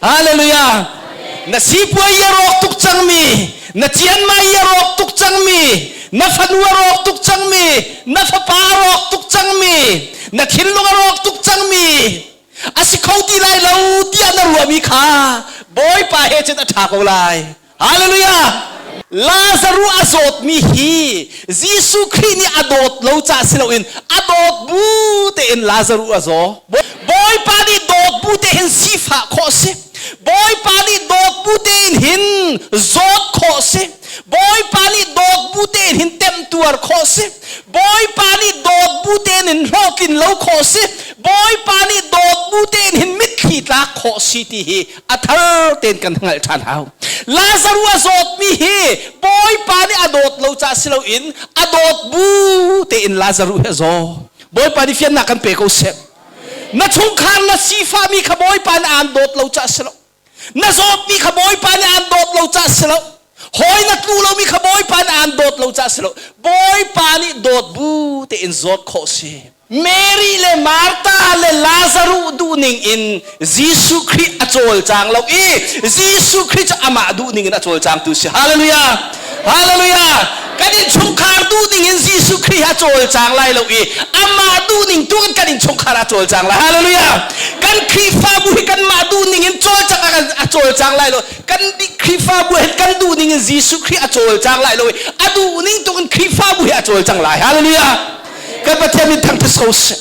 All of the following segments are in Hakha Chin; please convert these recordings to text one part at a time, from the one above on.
Hallelujah! Na sipuai i a rawk tuk cangmi, na cianmai i a rawk tuk cangmi, na fanu a rawk tuk cangmi, na fapa a rawk tuk cangmi, na thinlung a rawk tuk cangmi, a si kho ti lai lo tiah na ruahmi kha Bawipa he cun a ṭha ko lai. Hallelujah! Lazaru a zawtmi hi Jesuh Khrih nih a dawt lo caah si loin a dawt bu tein Lazaru a zaw. Bawipa nih dawt bu tein sifah khawh a si. Bawipa nih dawt bu tein hin zawt khawh a si. Bawipa nih dawt bu tein hin temtuar khawh a si. Bawipa nih dawt bu tein hin hlawhtlin lo khawh a si. Bawipa nih dawt bu tein hin mitthli tlak khawh a si ti hi a thar tein kan hngalh ṭhan hau. Lazaru a zawtmi hi Bawipa nih a dawt lo caah si loin a dawt bu tein Lazaru hi a zaw. Bawipa nih fiannak kan pe ko seh. Na chungkhar na sifahmi kha Bawipa nih aan dawt lo caah si lo. Na zawtmi kha Bawipa nih aan dawt lo caah si lo. Hawi na tlu lomi kha Bawipa na aan dawt lo caah si lo. Bawipa nih dawt bu tein zawt khawh si. Mary le Martha le Lazaruh duhning in Jesuh Khrih a cawlcang lo i Jesuh Khrih cu amah duhning in a cawlcangtu si. Hallelujah! Hallelujah! Kan innchungkhar duhning in Jesuh Khrih ha cawlcang lai lo i amah duhning tu in kan innchungkhar ha cawlcang lai. Hallelujah! Kan Khrihfabu hi kanmah duhning in cawlcang a cawlcang lai lo. kan Khrihfabu he kan duh ning in Jesuh Khrih a cawlcang lai lo i a duh ning tung in Khrihfabu he a cawlcang lai. Hallelujah! Kan Pathian min thang thus ko sih.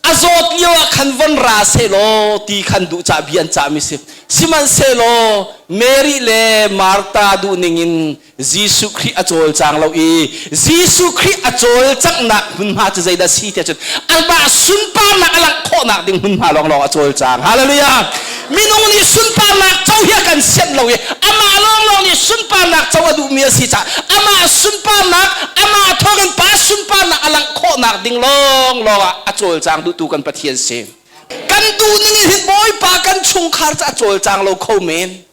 A zawt lio ah khan von ra sehlaw ti khan duh cah bi an cahmi si. Sihmanhsehlaw Mary le Martha duh ning in Jesuh Khrih a cawlcang lo i Jesuh Khrih a cawlcanghnak hmunhma cu zeidah si tiah cun anmah sunparnak a langh khawhnak ding hmunhma lawnglawng a cawlcang. Hallelujah! Minung nih sunparnak co hi a kan sianh lo i amah lawnglawng nih sunparnak co a duhmi a si caah amah sunparnak, amah thawngin Pa sunparnak a langh khawhnak ding lawnglawng ah a cawlcang duhtu kan Pathian si. Kan duhning in hin Bawipa kan chungkhar cu a cawlcang lo kho men.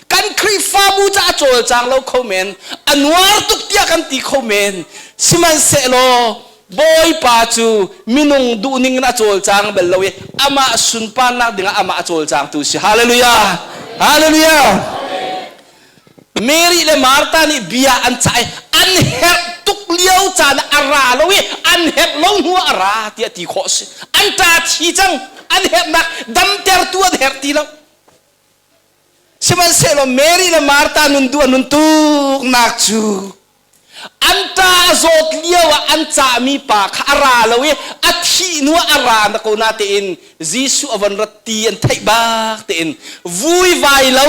kan khrihfabu ca a cawlcang lo kho men a nuar tuk tiah kan ti kho men sihmanhsehlaw bawipa cu minung duhning in a cawlcang bal lo i amah sunparnak dingah amah a cawlcangtu si hallelujah hallelujah Mary le Martha nih bia an cah i an herh tuk lio caan a ra lo i an herh lo hnu a ra tiah ti khawh a si an ṭa thi cang an herhnak damtertu an herh ti lo Sihmanhsehlaw Mary le Martha nundu an hun tuknak cu an ta a zawt lio ah an cahmi pa kha a ra lo i a thih hnu ah a ra na ko na tein Jesuh a von rat ti an theih bak tein vui vai lo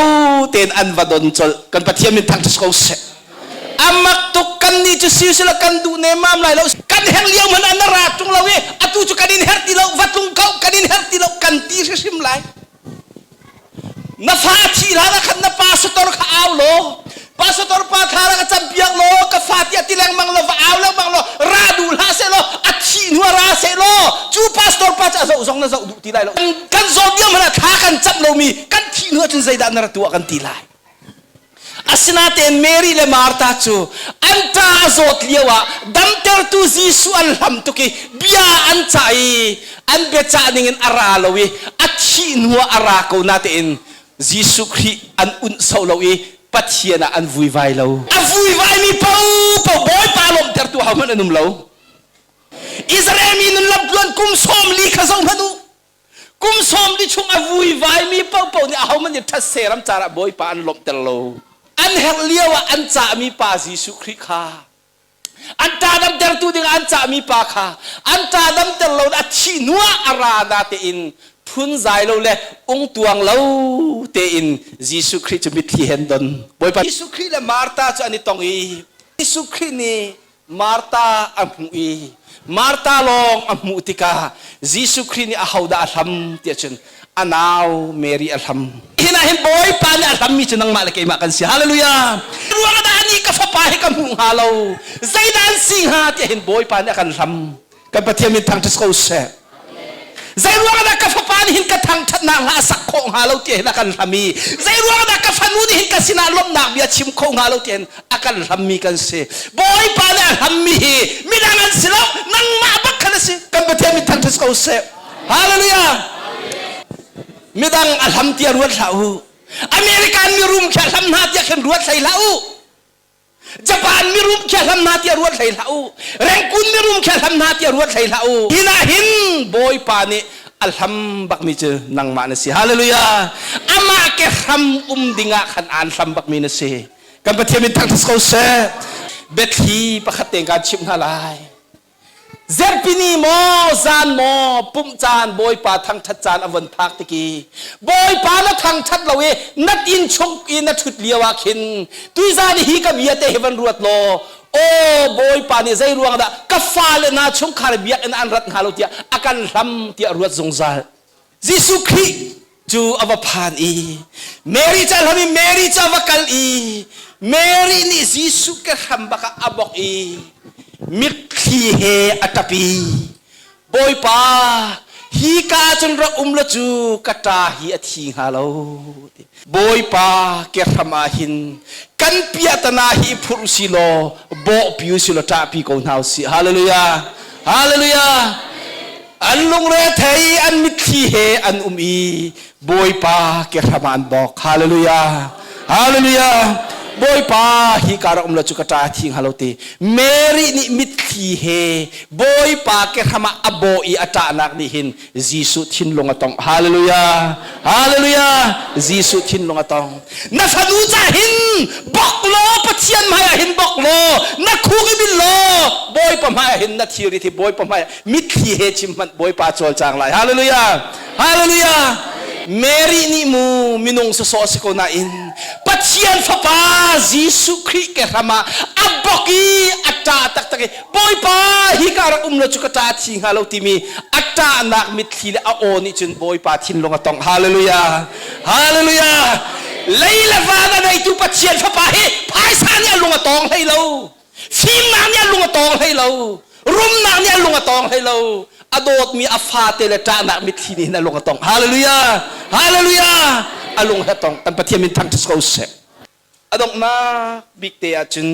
tein an va don colh kan Pathian min thangṭhat ko seh a mak tuk kannih cu silsila kan duh nemmam lai lo kan herh lio hmanh an ra ṭung lo i atu cu kan in herh ti lo va tlung ko kan in herh ti lo kan ti hrimhrim lai Na fa thi hlan ah khan na pastor kha au law pastor pa kha ra ka campiak law ka fa tiah ti lengmang law va au lengmang law ra duh hlah seh law a thi hnuah ra seh law cu pastor pa cu a zoh zong na zoh duh ti lai lo kan zawt diam hmanh ah thla kan cam lomi kan thi hnuah cun zeidah na ra tuah kan ti lai Asinain Mary le Martha cu an ṭa a zawt lioah damtertu Jesuh an hlam tuk i bia an cah i an biacah ningin a ra lo i a thih hnuah a ra ko natein Jesuh Khrih an unh sau lo i Pathian ah an vuivai lo. A vuivaimi paopaoh Bawipa lawmhtertu hohmanh an um lo. Israel mi nun lamtluan kum sawm li kha zohhmanh u. Kum sawm li chung a vuivaimi paohpaoh nih ahohmanh nih ṭhatse ram caah Bawipa an lawmhter lo. An herh lio ah an cahmi Pa Jesuh Khrih kha an ṭahdamtertu dingah an cahmi pa kha an ṭahdamter lo a thih hnuah a ra na tein phunzai lo le ungtuang lo tein Jesuh Khrih cu mitthli hen don. Bawipa Jesuh Khrih le Martha cu an i tong i Jesuh Khrih nih Martha a hmuh i Martha lawng a hmuh tikah Jesuh Khrih nih ahodah a hlam tiah cun a nau Mary a hlam. Hi hna hin Bawipa nih a hlammi cu nangmah le keimah kan si. Halleluijah! Ruangah dah anih ka fapa hi ka hmuh hnga lo? Zeidah an si hnga? tiah hin Bawipa nih a kan hlam. kan pathian min thangṭhat ko seh zei ruangah ka fapa nih hin ka thangṭhatnak hla a sak khawh hnga lo ti hin a kan hlam i zei ruangah ka fanu nih hin ka sinah lawmhnak bia chim kho hnga lo ti hin a kan hlammi kan si bawipa nih a hlammi hi midang an si lo nangmah bak khan a si kan pathian min thangṭhat ko seh hallelujah midang a hlam tiah ruat hlah u american mi rum kha hlam hna tiah khin ruat hlei hlah u Japan mirum khe hlam hna tiah ruat hlei hlah u. Rengkun mirum khe hlam hna tiah ruat hlei hlah u. Hi nah hin Bawipa nih a hlam bakmi cu nangmah na si. Hallelujah. Amah ke hram um dingah khan aan hlam bakmi na si. Kan Pathian min thangthas ko seh. Biathli pakhat te kan chimh hna lai. Zempini maw zan maw pumh caan Bawipa thangṭhat caan a von phak tik i Bawipa na thangṭhat lo i na inn chung i na ṭhut lio ah khin tuizan hi ka bia te hi van ruat law aw Bawipa nih zei ruang dah ka fale hna chungkhar biakinn an rat hna lo tiah a kan hlam tiah ruat zungzal Jesuh Khrih cu a va phan i Mary ca hlam in Mary cu a va kal i Mary nih Jesuh kehram bak ah a bawk i mitthli he a ṭap i Bawipa hi ka ah cun rak um law cu ka ṭa hi a thi hnga lo ti Bawipa kehram ah hin kan piatana hi phur si law bawhpi u si law ṭahpi ko hna u si hallelujah hallelujah an lungre thei an mitthli he an um i bawipa kehram ah an bawk hallelujah hallelujah bawipa hi karah um lo cu ka ṭa thing halo te Mary nih mitthli he bawipa kehram ah a bawh i a ṭahnak nih hin Jesuh thinlung a tong. Hallelujah! Hallelujah! Jesuh thinlung a tong. Na fanu ca hin bok law Pathian hmaiah hin bok law na khuk i bil law Bawipa hmaiah hin na thilrit hi Bawipa hmaiah mitthli he chim hmanh Bawipa cawlcang lai. Hallelujah! Hallelujah! Mary nih mu minung sawsawh a si ko nain Pathian Fapa Jesuh Khrih kehram ah a bok i a ṭah taktak i Bawipa hi ka rak um lo cu ka ṭa thi hnga lo timi a ṭahnak mitthli le a aw nih cun Bawipa thinlung a tongh. Hallelujah! Hallelujah! Lei le van a neitu Pathian fapa hi phaisa nih a lung a tawng hlei lo. Fimnak nih a lung a tawng hlei lo. Rumnak nih a lung a tawng hlei lo. A dawtmi a fate le ṭahnak mitthli nih hin a lung a tawng. Hallelujah! Hallelujah! A lung he tong. Kan Pathian min thangṭhat ko seh. a donghnak bik te ah cun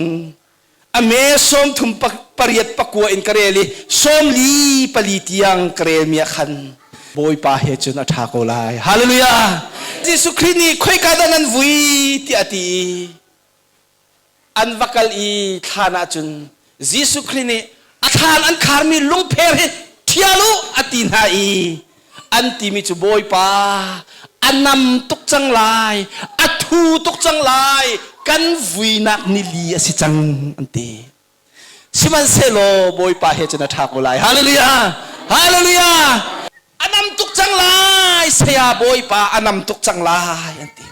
a me sawmthum pariat pakua in ka rel i sawmli pali tiang ka relmi ah khan bawipa he cun a ṭha ko lai hallelujah jesuh khrih nih khoika dah nan vui tiah a ti i an va kal i thlan ah cun Jesuh Khrih nih a thlan an kharmi lungpher hi ṭhial u a ti hna i an timi cu Bawipa a nam tuk cang lai a thu tuk cang lai kan vuinak nili a si cang an ti sihmanhsehlaw Bawipa he cun a ṭha ko lai hallelujah hallelujah a nam tuk cang lai saya Bawipa a nam tuk cang lai an ti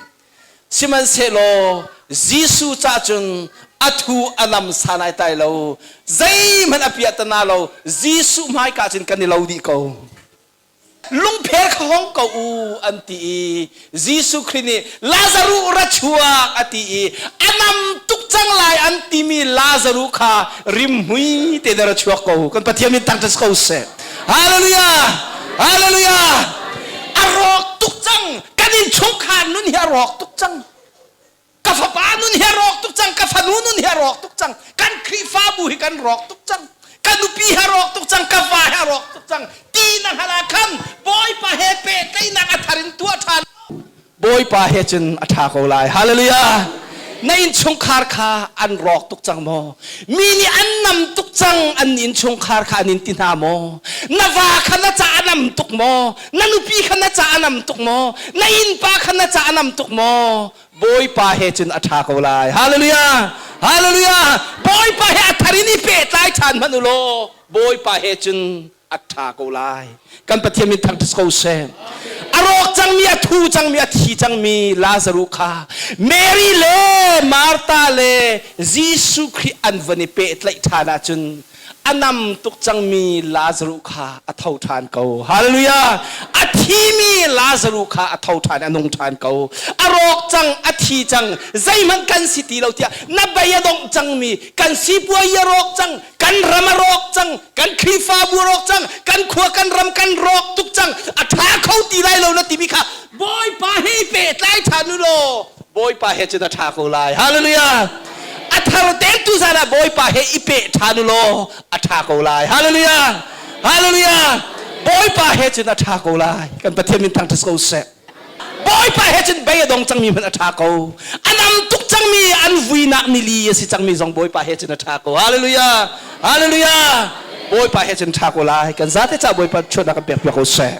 Sihmanhsehlaw Jesuh ca cun a thu a nam san ai tai lo. Zeihmanh a piah ta na lo. Jesuh hmaika cun kan i lo dih ko. Lungphel kha hong ko u an ti i Jesuh Khrih nih Lazaruh ra chuak a ti i a nam tuk cang lai an timi Lazaruh kha rimhmui te na ra chuak ko. Kan Pathian min tang ṭas ko seh. Hallelujah! Hallelujah! A rawk tuk cang. kan innchungkhar nun hi a rawk tuk cang ka fapa nun hi a rawk tuk cang ka fanu nun hi a rawk tuk cang kan khrihfabu hi kan rawk tuk cang ka nupi ha rawk tuk cang ka va ha rawk tuk cang ti na hngal ah khan bawipa he pehtlaihnak a thar in tuah ṭhan bawipa he cun a ṭha ko lai hallelujah na innchungkhar kha an rawk tuk cang maw mi nih an nam tuk cang an innchungkhar kha an in ti hna maw na va kha na ca a nam tuk maw na nupi kha na ca a nam tuk maw na innpa kha na ca a nam tuk maw bawipa he cun a ṭha ko lai hallelujah hallelujah bawipa he a thar in i pehtlai ṭhan hmanh u law bawipa he cun a ṭha ko lai kan pathian min thang ko seh a rawk cangmi a thu cangmi a thi cangmi lazaru kha mary le martha le jesuh khrih an van i pehtlaih ṭhan ahcun a nam tuk cangmi Lazaruh kha a tho ṭhan ko. Halleluja! A thimi Lazaruh kha a tho ṭhan, a nung ṭhan ko. A rawk cang, a thi cang, zeihmanh kan si ti lo tiah na bei a dongh cangmi kan sipuai a rawk cang, kan ram a rawk cang, kan Khrihfabu a rawk cang, kan khua kan ram kan rawk tuk cang, a ṭha kho ti lai lo na timi kha Bawipa he i pehtlai ṭhan u law Bawipa he cun a ṭha ko lai. Hallelujah! A thar teltu zan ah Bawipa he i peh ṭhan u law a ṭha ko lai. Hallelujah! Hallelujah! Bawipa he cun a ṭha ko lai. Kan Pathian min thang ṭha ko seh. Bawipa he cun bei a dong cangmi hmanh a ṭha ko. A nam tuk cangmi, an vuinak nili a si cangmi zong Bawipa he cun a ṭha ko. Hallelujah! Hallelujah! Bawipa he cun ṭha ko lai. Kan zate caah Bawipa chuahnak kan pekpiak ko seh.